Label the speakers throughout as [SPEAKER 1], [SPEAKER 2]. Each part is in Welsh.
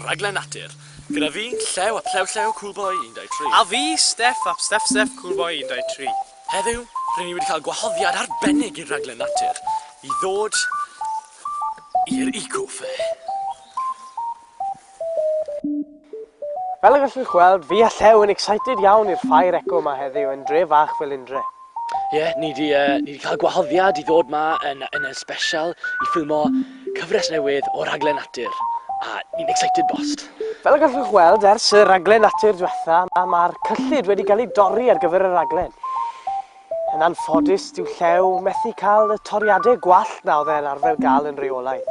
[SPEAKER 1] Rhaglen Natur. Gyda fi, Llew ap Llew Llew, Cool Boy 123. A fi, Steff
[SPEAKER 2] ap Steff Steff, Cool Boy 123. Heddiw,
[SPEAKER 1] rŷn ni wedi cael gwahoddiad arbennig i'r Rhaglen Natur i ddod i'r Eco Fair.
[SPEAKER 2] Fel y gallwch weld, fi a Llew yn excited iawn i'r Ffair Eco 'ma heddiw yn dre fach Felindre. Ie, ni 'di
[SPEAKER 1] yy ni 'di ca'l gwahoddiad i ddod 'ma yn yy yn y sbesial i ffilmo cyfres newydd o raglen natur, a ni'n excited bost! Fel y gallwch weld
[SPEAKER 2] ers y raglen natur dwetha, ma' ma'r cyllid wedi ga'l ei dorri ar gyfer y raglen. Yn anffodus, dyw Llew methu ca'l y toriade gwallt 'na o'dd e'n arfer ga'l yn reolaidd.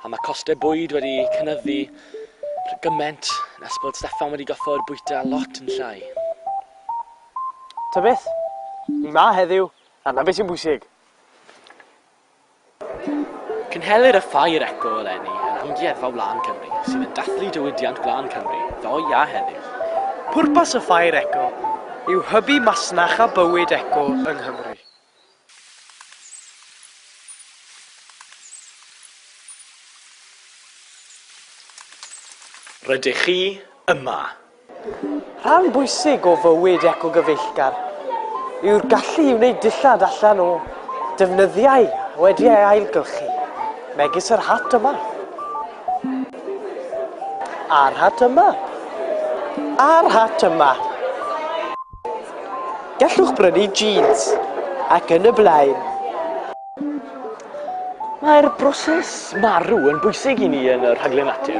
[SPEAKER 2] A ma'
[SPEAKER 1] coste bwyd wedi cynyddu rhy gyment nes bod Steffan wedi goffod bwyta lot yn llai.
[SPEAKER 2] Ta beth, ni 'ma heddiw, a 'na beth sy'n bwysig.
[SPEAKER 1] Cynhelir y Ffair Eco eleni yn Amgueddfa Wlân Cymru, sydd yn dathlu diwydiant gwlân Cymru ddoe a heddiw. Pwrpas y
[SPEAKER 2] Ffair Eco yw hybu masnach a bywyd eco yng Nghymru.
[SPEAKER 1] Rydych chi yma!
[SPEAKER 2] Rhan bwysig o fywyd ecogyfeillgar yw'r gallu i wneud dillad allan o defnyddiau wedi ei ailgylchu, megis yr hat yma, a'r hat yma, a'r hat yma. Gallwch brynu jîns ac yn y blaen.
[SPEAKER 1] Mae'r broses marw yn bwysig i ni yn y rhaglen natur,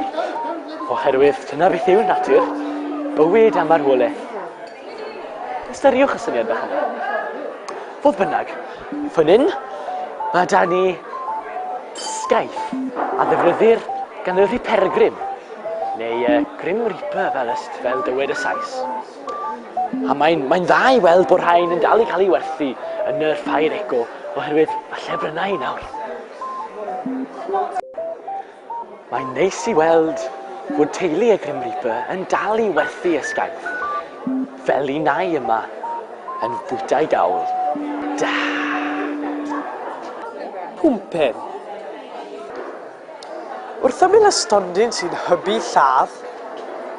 [SPEAKER 1] oherwydd dyna beth yw natur, bywyd a marwolaeth. Ystyriwch y syniad bach yna. Fodd bynnag, fan hyn, mae da ni sgaeth a ddefnyddir gan y rhipergrym, neu y Grim Reaper fel, fel dywed y Sais. A mae'n mae dda i weld bod rhain yn dal i cael ei werthu yn yr Ffair Eco oherwydd y llefrynnau nawr. Mae'n neis i weld bod teulu y Grim Reaper yn dal i werthu esgaeth fel un ai yma yn bwytau gawl. Da!
[SPEAKER 2] Pumpen. Wrth ymyl y stondin sy'n hybu lladd,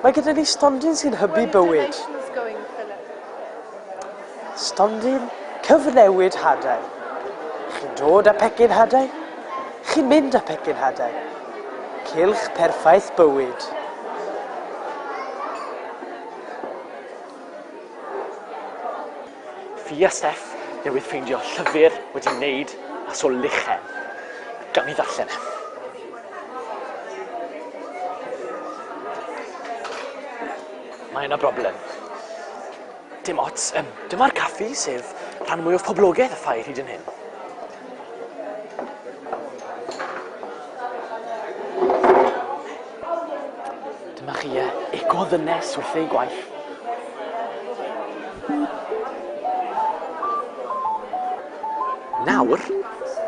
[SPEAKER 2] mae gyda ni stondin sy'n hybu bywyd. Stondin cyfnewid hadau. Chi'n dod â pecyn hadau? Chi'n mynd â pecyn hadau? Cilch perffaith bywyd.
[SPEAKER 1] Fia Steff newydd ffeindio llyfr wedi wneud mas o lychen. Gawn ni ddarllen e. Mae yna broblem. Dim ots, um, dyma'r caffi sef rhan mwyaf poblogaidd y ffair hyd yn hyn. Dyma chi e. Ego ddynes wrth ei gwaith. Nawr,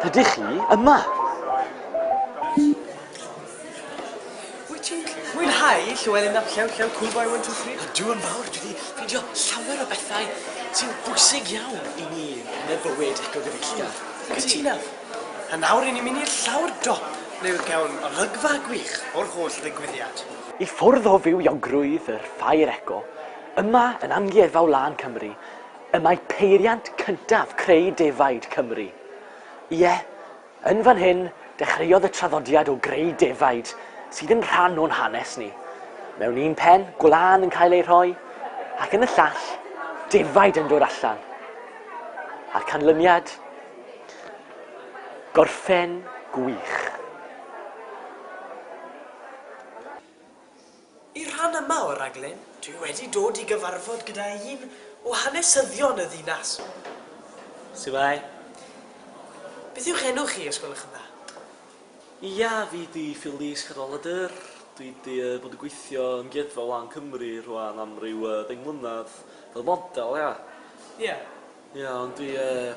[SPEAKER 1] ydych chi yma?
[SPEAKER 2] Wyt ti'n mwynhau Llewelyn ap Llew, Llew Cool Boy 123? Ydw yn fawr, dwi wedi
[SPEAKER 1] ffeindio llawer o bethau sy'n bwysig iawn i ni yn y bywyd ecogyfeillgar. Cytunaf.
[SPEAKER 2] A nawr ry'n ni'n mynd i'r llawr dop ble fe gawn olygfa gwych o'r holl ddigwyddiad. I ffwrdd o
[SPEAKER 1] fywiogrwydd yr Ffair Eco, yma yn Amgueddfa Wlân Cymru, y mae peiriant cyntaf creu defaid Cymru. Ie, yn fan hyn, dechreuodd y traddodiad o greu defaid sydd yn rhan o'n hanes ni. Mewn un pen, gwlân yn cael ei rhoi, ac yn y llall, defaid yn dod allan. A'r canlyniad? Gorffen gwych.
[SPEAKER 2] Y rhan yma o raglen, dwi wedi dod i gyfarfod gyda un o hanesyddion y ddinas. Su'mae. Beth yw'ch enw chi, os gwelwch yn dda? Ia,
[SPEAKER 3] fi 'di Philys Cadwaladr. Dwi 'di yy bod yn gweithio yng Ngeidfa Wlân Cymru rhŵan am ryw yy ddeng mlynadd, fel model, ia. Ia.
[SPEAKER 2] Ia
[SPEAKER 3] ond dwi yy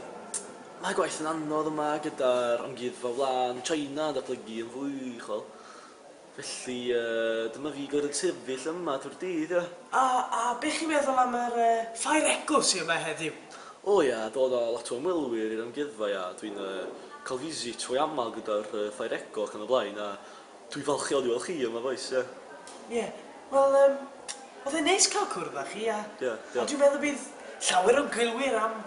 [SPEAKER 3] mae gwaith yn anodd yma gyda'r Amgueddfa Wlân China yn datblygu yn fwy uchel felly yy dyma fi gorod sefyll yma trwy'r dydd ia. A a be chi'n
[SPEAKER 2] meddwl am yr yy Ffair Egw sy yma heddiw? O ia dod
[SPEAKER 3] a lot o ymwelwyr i'r amgueddfa ia dwi'n yy ca'l visit fwy amal gyda'r yy Ffair Egw ac yn y blaen a Dwi falch iawn i weld chi yma bois, ie. Ie,
[SPEAKER 2] wel yym, oedd e'n neis cael cwrdd â chi a... Ie, diolch. ...a dwi'n meddwl bydd llawer o gwylwyr am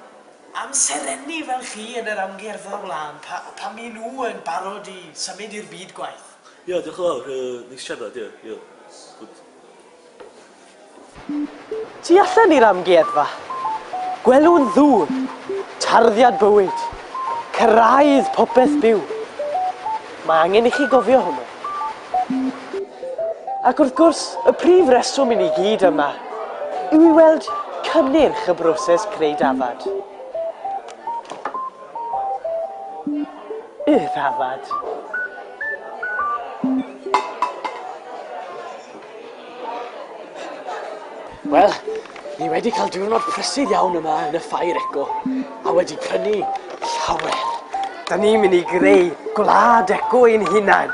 [SPEAKER 2] amserenni fel chi yn yr amgueddfa o'r wlân pa- pan maen nhw yn barod i symud i'r byd gwaith. Ie, diolch yn fawr, yy,
[SPEAKER 3] neis siarad, ie, ie, good.
[SPEAKER 2] Tu allan i'r amgueddfa, gwelwn ddŵr, tarddiad bywyd, cyrraedd popeth byw. Mae angen i chi gofio hwnnw. Ac wrth gwrs, y prif reswm i ni gyd yma yw i weld cynnyrch y broses creu dafad. Y ddafad.
[SPEAKER 1] Wel, ni wedi cael diwrnod prysur iawn yma yn y Ffair Eco, a wedi prynu llawer. Da ni'n
[SPEAKER 2] mynd i greu gwlad eco ein hunain.